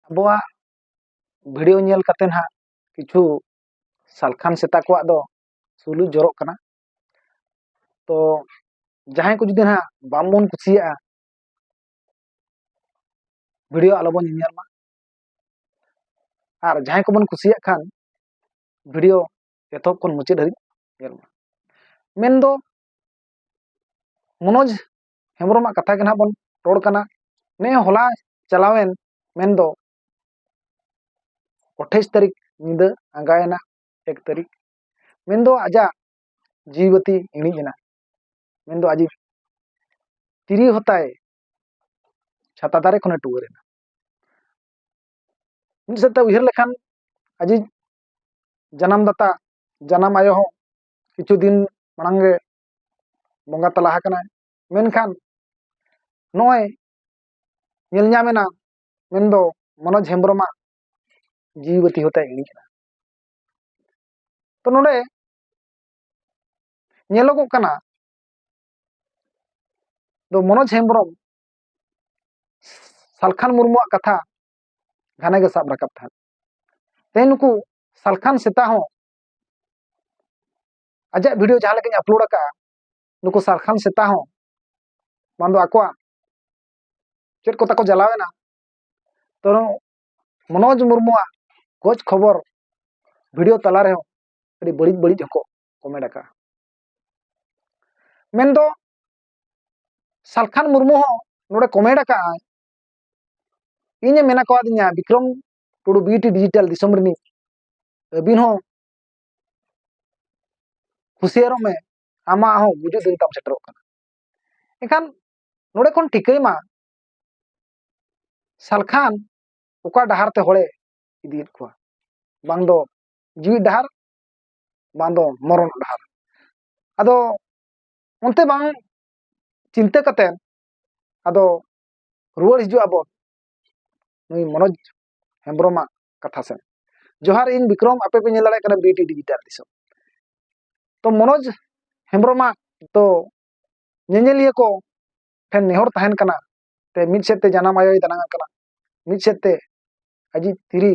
ᱟᱵᱚᱣᱟᱜ ᱵᱷᱤᱰᱭᱳ ᱧᱮᱞ ᱠᱟᱛᱮ ᱦᱟᱸᱜ ᱠᱤᱪᱷᱩ ᱥᱟᱞᱠᱷᱟᱱ ᱥᱮᱛᱟ ᱠᱚᱣᱟᱜ ᱫᱚ ᱥᱩᱞᱩᱡ ᱡᱚᱨᱚᱜ ᱠᱟᱱᱟ ᱛᱚ ᱡᱟᱦᱟᱸᱭ ᱠᱚ ᱡᱩᱫᱤ ᱦᱟᱸᱜ ᱵᱟᱝᱵᱚᱱ ᱠᱩᱥᱤᱭᱟᱜᱼᱟ ᱵᱷᱤᱰᱭᱳ ᱟᱞᱚᱵᱚᱱ ᱧᱮᱧᱮᱞ ᱢᱟ ᱟᱨ ᱡᱟᱦᱟᱸᱭ ᱠᱚᱵᱚᱱ ᱠᱩᱥᱤᱭᱟᱜ ᱠᱷᱟᱱ ᱵᱷᱤᱰᱭᱳ ᱮᱛᱚᱦᱚᱵ ᱠᱷᱚᱱ ᱢᱩᱪᱟᱹᱫ ᱦᱟᱹᱨᱤᱡ ᱧᱮᱞ ᱢᱟ ᱢᱮᱱᱫᱚ ᱢᱚᱱᱳᱡᱽ ᱦᱮᱢᱵᱨᱚᱢᱟᱜ ᱠᱟᱛᱷᱟ ᱜᱮ ᱱᱟᱦᱟᱜ ᱵᱚᱱ ᱨᱚᱲ ᱠᱟᱱᱟ ᱱᱮ ᱦᱚᱞᱟ ᱪᱟᱞᱟᱣᱮᱱ ᱢᱮᱱᱫᱚ ᱟᱴᱷᱟᱭᱤᱥ ᱛᱟᱹᱨᱤᱠᱷ ᱧᱤᱫᱟᱹ ᱟᱸᱜᱟᱭᱮᱱᱟ ᱮᱠ ᱛᱟᱹᱨᱤᱠᱷ ᱢᱮᱱᱫᱚ ᱟᱡᱟᱜ ᱡᱤᱣᱤ ᱵᱟᱹᱛᱤ ᱤᱬᱤᱡ ᱮᱱᱟ ᱢᱮᱱᱫᱚ ᱟᱡᱤᱡ ᱛᱤᱨᱤ ᱦᱚᱛᱟᱭ ᱪᱷᱟᱛᱟ ᱫᱟᱨᱮ ᱠᱷᱚᱱᱮ ᱴᱩᱣᱟᱹᱨ ᱮᱱᱟ ᱢᱤᱫ ᱥᱮᱫ ᱛᱮ ᱩᱭᱦᱟᱹᱨ ᱞᱮᱠᱷᱟᱱ ᱟᱡᱤᱡ ᱡᱟᱱᱟᱢ ᱫᱟᱛᱟ ᱡᱟᱱᱟᱢ ᱟᱭᱳ ᱦᱚᱸ ᱠᱤᱪᱷᱩ ᱫᱤᱱ ᱢᱟᱲᱟᱝ ᱜᱮ ᱵᱚᱸᱜᱟ ᱛᱟᱞᱟ ᱟᱠᱟᱱᱟᱭ ᱢᱮᱱᱠᱷᱟᱱ ᱱᱚᱜᱼᱚᱭ ᱧᱮᱞ ᱧᱟᱢ ᱮᱱᱟ ᱢᱮᱱᱫᱚ ᱢᱚᱱᱳᱡᱽ ᱦᱮᱢᱵᱨᱚᱢᱟᱜ ᱡᱤᱣᱤ ᱵᱟᱹᱛᱤ ᱦᱚᱸ ᱛᱟᱭ ᱤᱬᱤᱡ ᱮᱱᱟ ᱛᱚ ᱱᱚᱰᱮ ᱧᱮᱞᱚᱜᱚᱜ ᱠᱟᱱᱟ ᱫᱚ ᱢᱚᱱᱳᱡᱽ ᱦᱮᱢᱵᱨᱚᱢ ᱥᱟᱞᱠᱷᱟᱱ ᱢᱩᱨᱢᱩᱣᱟᱜ ᱠᱟᱛᱷᱟ ᱜᱷᱟᱱᱮ ᱜᱮ ᱥᱟᱵ ᱨᱟᱠᱟᱵ ᱛᱟᱦᱮᱸᱫ ᱛᱮᱦᱮᱧ ᱱᱩᱠᱩ ᱥᱟᱞᱠᱷᱟᱱ ᱥᱮᱛᱟ ᱦᱚᱸ ᱟᱡᱟᱜ ᱵᱷᱤᱰᱤᱭᱳ ᱡᱟᱦᱟᱸ ᱞᱮᱠᱟᱧ ᱟᱯᱞᱳᱰ ᱟᱠᱟᱫᱼᱟ ᱱᱩᱠᱩ ᱥᱟᱨᱠᱷᱟᱱ ᱥᱮᱛᱟ ᱦᱚᱸ ᱵᱟᱝ ᱫᱚ ᱟᱠᱚᱣᱟᱜ ᱪᱮᱫ ᱠᱚ ᱛᱟᱠᱚ ᱡᱟᱞᱟᱣᱮᱱᱟ ᱛᱚ ᱢᱚᱱᱳᱡᱽ ᱢᱩᱨᱢᱩᱣᱟᱜ ᱜᱚᱡ ᱠᱷᱚᱵᱚᱨ ᱵᱷᱤᱰᱤᱭᱳ ᱛᱟᱞᱟ ᱨᱮᱦᱚᱸ ᱟᱹᱰᱤ ᱵᱟᱹᱲᱤᱡ ᱵᱟᱹᱲᱤᱡ ᱦᱚᱸᱠᱚ ᱠᱚᱢᱮᱱᱴ ᱟᱠᱟᱫᱼᱟ ᱢᱮᱱᱫᱚ ᱥᱟᱞᱠᱷᱟᱱ ᱢᱩᱨᱢᱩ ᱦᱚᱸ ᱱᱚᱰᱮ ᱠᱚᱢᱮᱱᱴ ᱟᱠᱟᱫᱼᱟᱭ ᱤᱧᱮ ᱢᱮᱱᱟ ᱠᱚᱣᱟᱫᱤᱧᱟ ᱵᱤᱠᱨᱚᱢ ᱴᱩᱰᱩ ᱵᱤᱴᱤ ᱰᱤᱡᱤᱴᱟᱞ ᱫᱤᱥᱚᱢ ᱨᱤᱱᱤᱡ ᱟᱹᱵᱤᱱ ᱦᱚᱸ ᱦᱩᱥᱤᱭᱟᱨᱚᱜ ᱢᱮ ᱟᱢᱟᱜ ᱦᱚᱸ ᱜᱩᱡᱩᱜ ᱫᱤᱱ ᱛᱟᱢ ᱥᱮᱴᱮᱨᱚᱜ ᱠᱟᱱᱟ ᱮᱱᱠᱷᱟᱱ ᱱᱚᱰᱮ ᱠᱷᱚᱱ ᱴᱷᱤᱠᱟᱹᱭ ᱢᱟ ᱥᱟᱞᱠᱷᱟᱱ ᱚᱠᱟ ᱰᱟᱦᱟᱨ ᱛᱮ ᱦᱚᱲᱮ ᱤᱫᱤᱭᱮᱫ ᱠᱚᱣᱟ ᱵᱟᱝ ᱫᱚ ᱡᱤᱣᱤ ᱰᱟᱦᱟᱨ ᱵᱟᱝ ᱫᱚ ᱢᱚᱨᱚᱱ ᱰᱟᱦᱟᱨ ᱟᱫᱚ ᱚᱱᱛᱮ ᱵᱟᱝ ᱪᱤᱱᱛᱟᱹ ᱠᱟᱛᱮ ᱟᱫᱚ ᱨᱩᱣᱟᱹᱲ ᱦᱤᱡᱩᱜ ᱟᱵᱚ ᱱᱩᱭ ᱢᱚᱱᱳᱡᱽ ᱦᱮᱢᱵᱨᱚᱢᱟᱜ ᱠᱟᱛᱷᱟ ᱥᱮᱱ ᱡᱚᱦᱟᱨ ᱤᱧ ᱵᱤᱠᱨᱚᱢ ᱟᱯᱮ ᱯᱮ ᱧᱮᱞ ᱫᱟᱲᱮᱭᱟᱜ ᱠᱟᱱᱟ ᱵᱤᱴᱤ ᱰᱤᱡᱤᱴᱟᱞ ᱫᱤᱥᱚᱢ ᱛᱚ ᱢᱚᱱᱳᱡᱽ ᱦᱮᱢᱵᱨᱚᱢᱟᱜ ᱫᱚ ᱧᱮᱧᱮᱞᱤᱭᱟᱹ ᱠᱚ ᱴᱷᱮᱱ ᱱᱮᱦᱚᱨ ᱛᱟᱦᱮᱱ ᱠᱟᱱᱟ ᱛᱮ ᱢᱤᱫ ᱥᱮᱫ ᱛᱮ ᱡᱟᱱᱟᱢ ᱟᱭᱳᱭ ᱫᱟᱱᱟᱝ ᱟᱠᱟᱱᱟ ᱢᱤᱫ ᱥᱮᱫ ᱛᱮ ᱟᱡᱤᱡ ᱛᱤᱨᱤ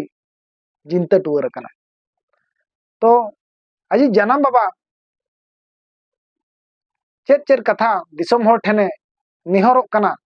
ᱡᱤᱱᱛᱟᱹ ᱴᱩᱣᱟᱹᱨ ᱟᱠᱟᱱᱟ ᱛᱚ ᱟᱡᱤᱡ ᱡᱟᱱᱟᱢ ᱵᱟᱵᱟ ᱪᱮᱫ ᱪᱮᱫ ᱠᱟᱛᱷᱟ ᱫᱤᱥᱚᱢ ᱦᱚᱲ ᱴᱷᱮᱱᱮ ᱱᱮᱦᱚᱨᱚᱜ ᱠᱟᱱᱟ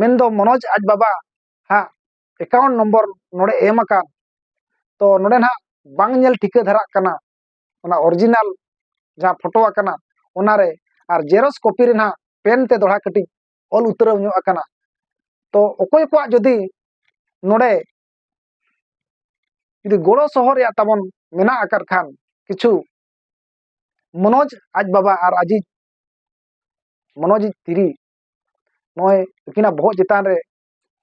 ᱢᱮᱱᱫᱚ ᱢᱚᱱᱳᱡᱽ ᱟᱡ ᱵᱟᱵᱟ ᱦᱟᱸᱜ ᱮᱠᱟᱣᱩᱱᱴ ᱱᱚᱢᱵᱚᱨ ᱱᱚᱰᱮ ᱮᱢ ᱟᱠᱟᱱ ᱛᱚ ᱱᱚᱰᱮ ᱱᱟᱦᱟᱜ ᱵᱟᱝ ᱧᱮᱞ ᱴᱷᱤᱠᱟᱹ ᱫᱷᱟᱨᱟᱜ ᱠᱟᱱᱟ ᱚᱱᱟ ᱚᱨᱤᱡᱤᱱᱟᱞ ᱡᱟᱦᱟᱸ ᱯᱷᱳᱴᱳ ᱟᱠᱟᱱᱟ ᱚᱱᱟᱨᱮ ᱟᱨ ᱡᱮᱨᱚᱥ ᱠᱚᱯᱤ ᱨᱮ ᱱᱟᱦᱟᱜ ᱯᱮᱱ ᱛᱮ ᱫᱚᱲᱦᱟ ᱠᱟᱹᱴᱤᱡ ᱚᱞ ᱩᱛᱟᱹᱨᱟᱣ ᱧᱚᱜ ᱟᱠᱟᱱᱟ ᱛᱚ ᱚᱠᱚᱭ ᱠᱚᱣᱟᱜ ᱡᱩᱫᱤ ᱱᱚᱰᱮ ᱡᱩᱫᱤ ᱜᱚᱲᱚ ᱥᱚᱦᱚ ᱨᱮᱭᱟᱜ ᱛᱟᱵᱚᱱ ᱢᱮᱱᱟᱜ ᱟᱠᱟᱫ ᱠᱷᱟᱱ ᱠᱤᱪᱷᱩ ᱢᱚᱱᱳᱡᱽ ᱟᱡ ᱵᱟᱵᱟ ᱟᱨ ᱟᱡᱤᱡ ᱢᱚᱱᱳᱡᱽ ᱛᱤᱨᱤ ᱱᱚᱜᱼᱚᱭ ᱩᱱᱠᱤᱱᱟᱜ ᱵᱚᱦᱚᱜ ᱪᱮᱛᱟᱱ ᱨᱮ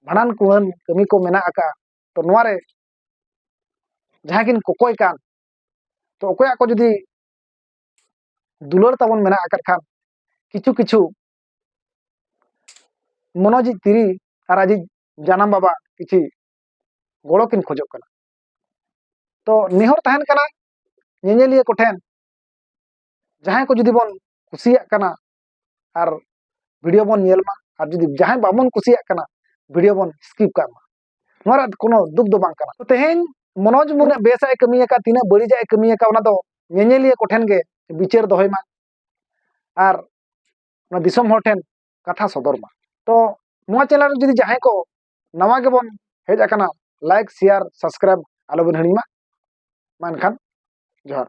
ᱵᱷᱟᱸᱰᱟᱱ ᱠᱩᱲᱟᱹᱱ ᱠᱟᱹᱢᱤ ᱠᱚ ᱢᱮᱱᱟᱜ ᱟᱠᱟᱫᱼᱟ ᱛᱚ ᱱᱚᱣᱟ ᱨᱮ ᱡᱟᱦᱟᱸᱭ ᱠᱤᱱ ᱠᱚᱠᱚᱭ ᱠᱟᱱ ᱛᱚ ᱚᱠᱚᱭᱟᱜ ᱠᱚ ᱡᱩᱫᱤ ᱫᱩᱞᱟᱹᱲ ᱛᱟᱵᱚᱱ ᱢᱮᱱᱟᱜ ᱟᱠᱟᱫ ᱠᱷᱟᱱ ᱠᱤᱪᱷᱩ ᱠᱤᱪᱷᱩ ᱢᱚᱱᱚᱡᱤᱡ ᱛᱤᱨᱤ ᱟᱨ ᱟᱡᱤᱡ ᱡᱟᱱᱟᱢ ᱵᱟᱵᱟ ᱠᱤᱪᱷᱤ ᱜᱚᱲᱚ ᱠᱤᱱ ᱠᱷᱚᱡᱚᱜ ᱠᱟᱱᱟ ᱛᱚ ᱱᱮᱦᱚᱨ ᱛᱟᱦᱮᱱ ᱠᱟᱱᱟ ᱧᱮᱧᱮᱞᱤᱭᱟᱹ ᱠᱚᱴᱷᱮᱱ ᱡᱟᱦᱟᱸᱭ ᱠᱚ ᱡᱩᱫᱤ ᱵᱚᱱ ᱠᱩᱥᱤᱭᱟᱜ ᱠᱟᱱᱟ ᱟᱨ ᱵᱷᱤᱰᱤᱭᱳ ᱵᱚᱱ ᱧᱮᱞ ᱢᱟ ᱟᱨ ᱡᱩᱫᱤ ᱡᱟᱦᱟᱸᱭ ᱵᱟᱵᱚᱱ ᱠᱩᱥᱤᱭᱟᱜ ᱠᱟᱱᱟ ᱵᱷᱤᱰᱤᱭᱳ ᱵᱚᱱ ᱥᱠᱤᱯ ᱠᱟᱜ ᱢᱟ ᱱᱚᱣᱟ ᱨᱮ ᱠᱳᱱᱳ ᱫᱩᱠ ᱫᱚ ᱵᱟᱝ ᱠᱟᱱᱟ ᱛᱮᱦᱮᱧ ᱢᱚᱱᱳᱡᱽ ᱢᱩᱨᱢᱩ ᱵᱮᱥᱟᱜ ᱮ ᱠᱟᱹᱢᱤ ᱟᱠᱟᱫ ᱛᱤᱱᱟᱹᱜ ᱵᱟᱹᱲᱤᱡᱟᱜ ᱮ ᱠᱟᱹᱢᱤ ᱟᱠᱟᱫ ᱚᱱᱟ ᱫᱚ ᱧᱮᱧᱮᱞᱤᱭᱟᱹ ᱠᱚᱴᱷᱮᱱ ᱜᱮ ᱵᱤᱪᱟᱹᱨ ᱫᱚᱦᱚᱭ ᱢᱟ ᱟᱨ ᱚᱱᱟ ᱫᱤᱥᱚᱢ ᱦᱚᱲ ᱴᱷᱮᱱ ᱠᱟᱛᱷᱟ ᱥᱚᱫᱚᱨ ᱢᱟ ᱛᱚ ᱱᱚᱣᱟ ᱪᱮᱱᱮᱞ ᱨᱮ ᱡᱩᱫᱤ ᱡᱟᱦᱟᱸᱭ ᱠᱚ ᱱᱟᱣᱟ ᱜᱮᱵᱚᱱ ᱦᱮᱡ ᱟᱠᱟᱱᱟ ᱞᱟᱭᱤᱠ ᱥᱮᱭᱟᱨ ᱥᱟᱵᱥᱠᱨᱟᱭᱤᱵ ᱟᱞᱚᱵᱚᱱ ᱦᱤᱲᱤᱧ ᱢᱟ ᱢᱟ ᱮᱱᱠᱷᱟᱱ ᱡᱚᱦᱟᱨ